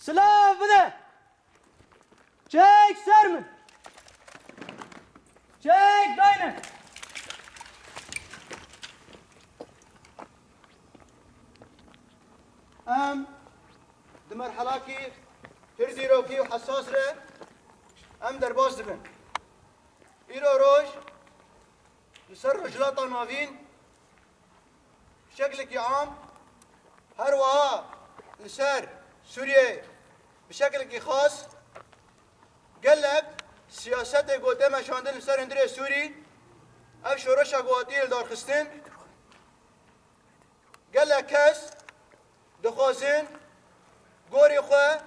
Silav bide! Çek ser min! Çek dayne! Em di merhelakî pir zîrokî û hesas re em derbas dibin. Îro roj li ser Rojhilata Navîn Bi şekilekî am her wiha li ser Sûriyeyê bi şekilekî xas gelek siyasetê ku tê meşandin li ser hundirê Sûrî ev şoreşa ku hatiye lidarxistin gelek kes Dixwazin gorê xwe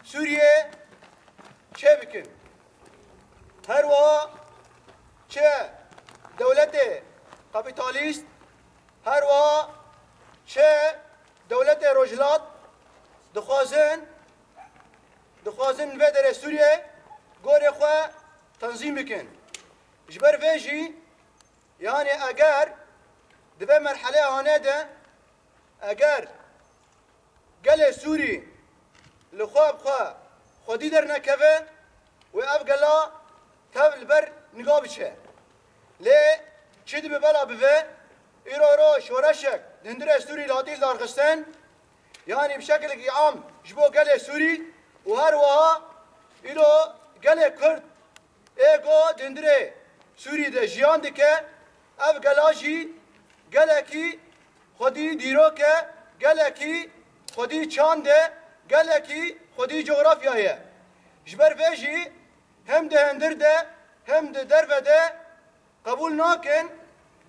Sûriyê çêbikin. Her wiha çi dewletê kapîtalîst, her wiha çi dewletê rojhilat dixwazin dixwazin li vê derê Sûriyê gorê xwe tenzîm bikin. Ji ber vê jî Yanî eger di vê merheleya hane de eger gelê Sûrî li xwe bi xwe xwedî dernekeve wê ev gela tev li ber niga biçe. Lê çi dibe bela bibe îro îro şoreşek di hundirê Sûrî latîn darxistin yanî bi şekilekî am ji bo gelê Sûrî û her wiha îro gelê Kurd Ê got hundirê Sûrî de jiyan dike, ev gela jî gelekî xwedî dîrok e, gelekî xwedî çand e, gelekî xwedî cografya ye. Ji ber vê jî hem di hundir de hem di derve de qebûl nakin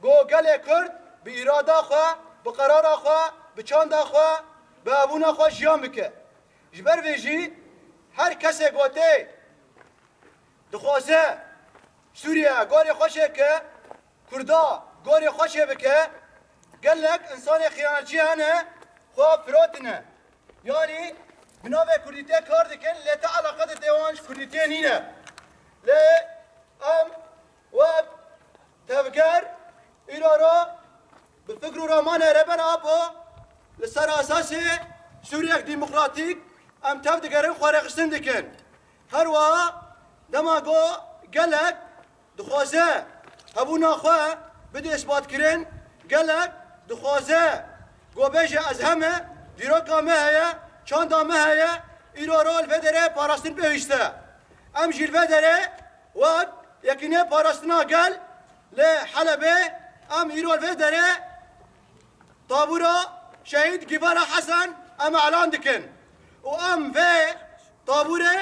ku gelê Kurd bi îrada xwe, bi qerara xwe, bi çanda xwe, bi hebûna xwe jiyan bike. Ji ber vê jî her kesê ku tê. Dixwaze Sûriye gorê xwe çêbike, Kurda gorê xwe çêbike, gelek însanê xiyanetçî hene xwe firotine. Yanî bi navê kurdîtê kar dikin lê ti eleqet tê wan ji kurdîtê nîne. Lê em wek tevger îro re bi fikr û ramane re ben apo li ser esasê Sûriyek demokratîk em tev digerin xwerêxistin dikin. Her wiha dema ku gelek dixwaze hebûna xwe bidê isbatkirin, gelek dixwaze ku bêje ez he me, dîroka me heye, çanda me heye, îro rol vê derê parastin pêwîst e. Em jî li vê derê wek yekî nê parastina gel lê Helebê em îro li vê derê, Tabûra Şehîd Givara Hesen em elan dikin û em vê tabûrê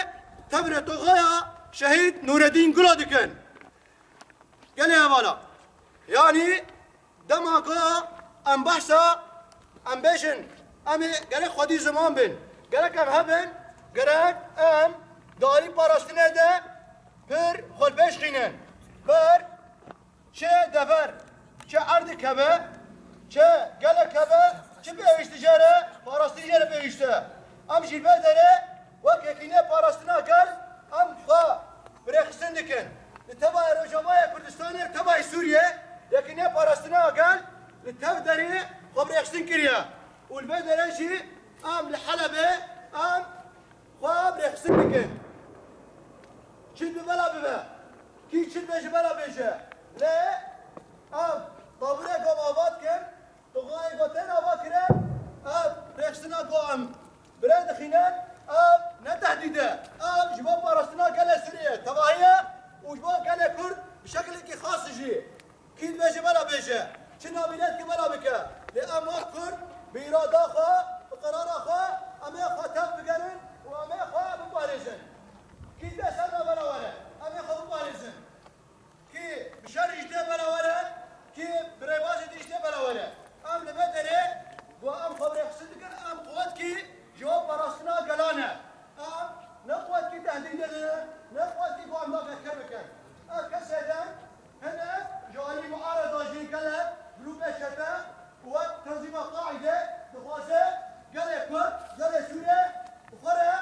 tevrê toxoya Şehîd Nûredîn Gula dikin. Gelê hevala. Yanî dema ku em behsa em bêjin em ê gerek xwedî ziman bin, gerek em hebin, gerek em di alî parastinê de pir xwe li pêş xînin ber Çi dever, çi erdek hebe, çi gelek hebe, çi pêwîşti jê re, parastin jê re pêwîşti. Em ji vê derê wek Yekînîya Parastina Gel em xwe bi rêxistin dikin. Li Tebayê Rojavayê Kurdistanê li Tebayê Sûriyê Yekînîya Parastina Gel li tev derê xwe bi rêxistin kiriye û li vê derê jî em li Helebê em Xwe em rêxistin dikin. Çin bi mela bibe. Kî çin be ji me re bêje. Lê em taburêko ava dikin. Tuxanêko tên ava kirin. Ev rêxistina ku em bi rê dixînin ev ne tehdîd e. Ev ji bo parastina gelê Sûriyê tevahî ye û ji bo gelê Kurd bi şekilekî xas jî. Kî dibêje bela bêje, çi navî lê dike bela bike, lê em wek Kurd bi îrada xwe, bi qerara xwe emê xwe tev bigerin û emê xwe biparêzin. Kî dê ser me bela were, emê xwe biparêzin. Kî bi şer jî tê bela were, kî bi rêbazê din jî tê bela were. Em li vê derê ku em xwe birêxistin dikin, em quwetkî ji bo parastina gelan e. Em ne quwetkî tehdîdê din in, ne quwetkî ku em daxetkir bikin. Ev kesê din, Hene ji aliyê miarada jî gelek grûpên çete ku wek tenzîma Qaîde dixwaze gelê Kurd, gelê Sûre bi xwe re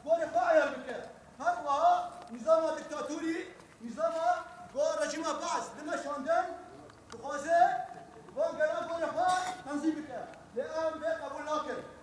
gorê xwe eyar bike. Her wiha nîzama diktatorî, nîzama ku rejîma Baas dime şandin dixwaze van gelan gorê xwe tenzîm bike. Lê em vê qebûl nakin.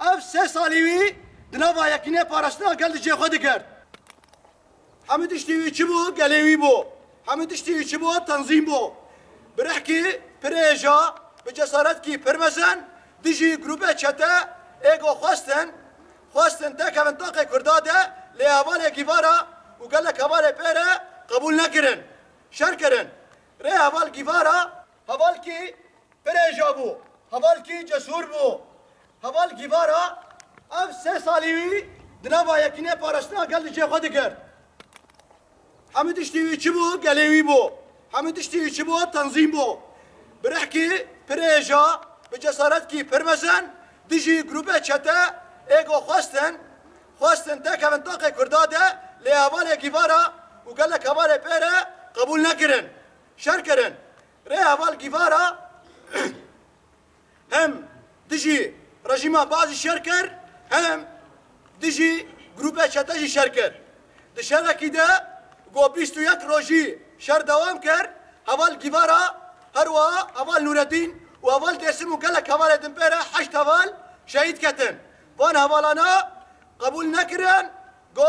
Ev sê salî wî di nava yekînê parastina gel di cihê xwe dikerd. Hemû tiştî wî çi bû gelê wî bû. Hemû tiştî wî çi bû tenzîm bû. Bi rihkî pirê hêja, bi cesaretkî pir mezin dijî grûpê çete ê ku xwestin xwestin têkevin taqê Kurda de lê hevalêkî va re û gelek hevalê pê re qebûl nekirin. Şer kirin. Rê heval gîvara Hevalkî pirêja bû, hevalkî cesûr bû, heval gîvar a. Ev sê salî wî di nava yekînê parastina gel li cihê xwe dikir. Hemû tiştî wî çi bû gelê wî bû, hemû tiştî wî çi bû tenzîm bû. Bi rihkî, pirêja, bi cesaretkî pir mezin dijî grûpê çete ê ku xwestin xwestin têkevin taxê Kurda de lê hevalê gîvar a û gelek hevalê pê re qebûl nekirin. Şer kirin. Rê heval Gîvara hem dijî rejîma Baasî şer kir hem dijî grûpê çete jî şer kir. Di şerekî de ku bîst û yek rojî şer dewam kir, heval Gîvara, herwiha heval Nûredîn û heval Dêrsim û gelek hevalê din pê re heşt heval şehîd ketin. Van hevalana qebûl nekirin ku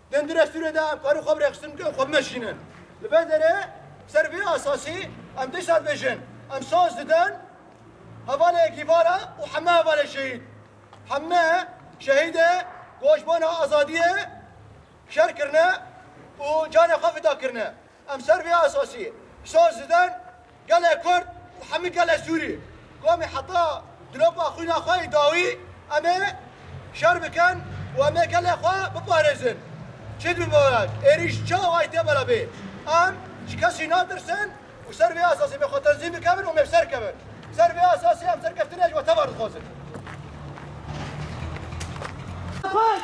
Dendire Sûrê de em karî xwe bi rêxistin bikin, xwe bimeşînin. Li vê derê ser vê esasî em tê şer bêjin. Em şans didin hevalê Gîvara û heme hevalê şehîd. Heme şehîdê goşbana azadiyê şer kirine û canê xwe fida kirine. Em ser vê esasî şans didin. Gelê Kurd û hemû gelê Sûrî komê heta dilopa xwîna xwe yê dawî em ê şer bikin û em ê gelê xwe biparêzin. Çi dibî bawek êrîş çi awayî tê bela bê. Em ji kesî natirsin û ser vê esasê mê xwe tenzîm bikevin û mê bi ser kevin. Bi ser vê esasê em serkeftinê ji we tevar dixwazin. Gelê Kurd!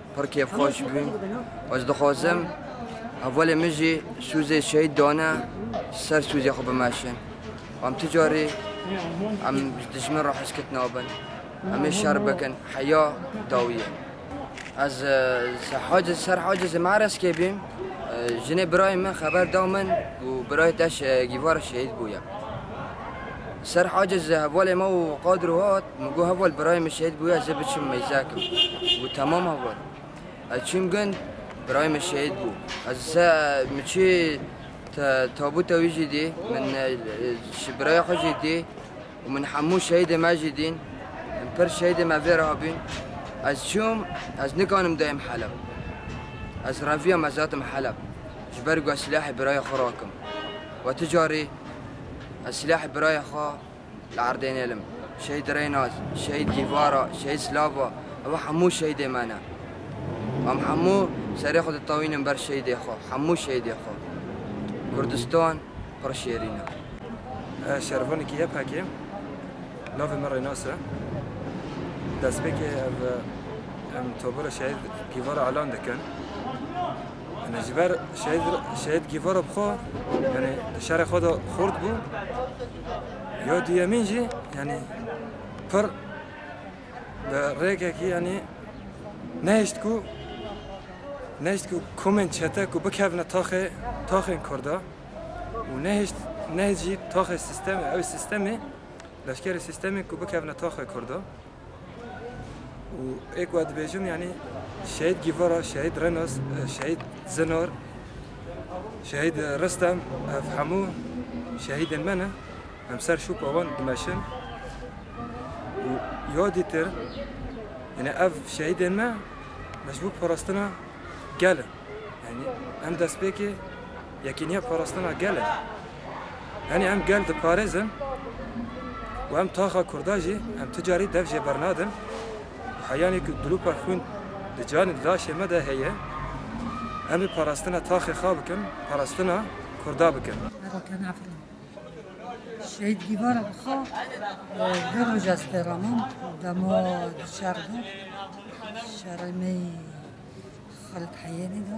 Pir kêfxweş bûn. Ez dixwazim hevalên min jî sûzê şehîd dane ser sûzê xwe bimeşin. Em tu carî em ji dijmin re heskit nabin. Em ê şer bikin. Heya dawî ye. Ez hacê ser hacê zê mereskê bîm. Jinê birayê min xeber da min û birayê te gîvara şehîd bûye. Ser hacê zê hevalê me û qadro hat. Min got heval birayê min şehîd bûye ez ê biçim meyzekim. Got temam heval. Ez çûm gund birayê min şehîd bû. Ez se min çû tabûta wî jî dî min ji birayê xwe jî dî û min hemû şehîdê me jî dîn. Min pir şehîdê me vê re hebûn. Ez çûm ez nikanim dayêm Heleb. Ez reviya me zetim Heleb ji ber ku ez silahê birayê xwe rakim. We tu carî ez silahê birayê xwe Li erdê nêlim. Şehîd Reynaz, Şehîd Gîvara, Şehîd Slava, ew hemû şehîdê me ne. Em hemû serê xwe ditewînin ber şehîdê xwe, hemû şehîdê xwe. Kurdistan pir şêrîn e. Ez şervanekî YPG'ê im. Navê min Reynaz e. Destpêkê ev em tobora Şehîd Gîvara elan dikin. Yanî ji ber Şehîd Şehîd Gîvara bi xwe yanî di şerê xwe de xurt bû. Ya duyemîn jî yanî pir bi rêkekî yanî nehişt ku nehişt ku komên çete ku bikevne taxê taxên Kurda û nehişt nehişt jî taxê sistemê ew sistemê leşkerê sistemê ku bikevne taxê Kurda. Û ê ku ez dibêjim yanî Şehîd Gîvara, Şehîd Renos, Şehîd Zinar, Şehîd Ristem ev hemû şehîdên me ne. Em ser şûpa wan dimeşin û yadî têrin. Yanî ev şehîdên me me ji bo parastina gel in. Yanî em destpêkê Yekîniya parastina gel e. Yanî em gel diparêzin û em taxa kurda jî em ti carî dev jê bernadin û heyanî ku dilûpa xwîn di canê laşê me de heye em ê parastina taxê xwe bikin, parastina kurda bikin. Merakên Efrîn Şehîd Dîvara bixa vê roj ez tê re mam ku dema di şer de şerê me yî Xalid Heyênî de.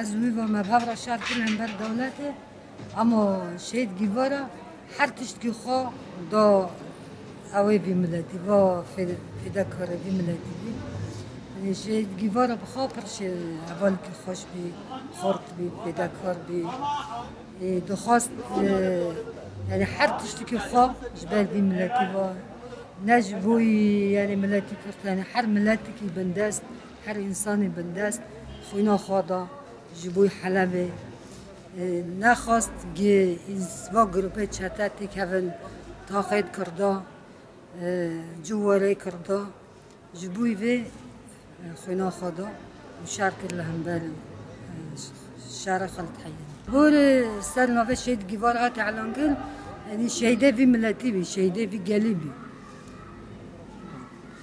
Ez wî ve me bavra şar kir hember dewletê ama şehîd Gîvara her tiştkî xwe da ewê vî miletî va fîdekare vî miletî bî. Şehîd Gîvara bi xwe pir hevalkî xweş bî, xort bî, fîdekar bî. Dixwast yani her tiştikî xwe ji ber vî miletî va ne ji bo yani miletî Kurd yani her miletikî bindest Her însanê bindest xwîna xwe da ji bo Helebê. Nexwest gi va grûpê çete tê kevin taxêt kirda, cû werê kirda. Ji bo vê xwîna xwe da û şer kir li hember şere Xalid Heyyanî. Gorê ser navê Şehîd Gîvar hat îlan kirin, yanî şehîdê vî miletî bî, şehîdê vî gelî bî.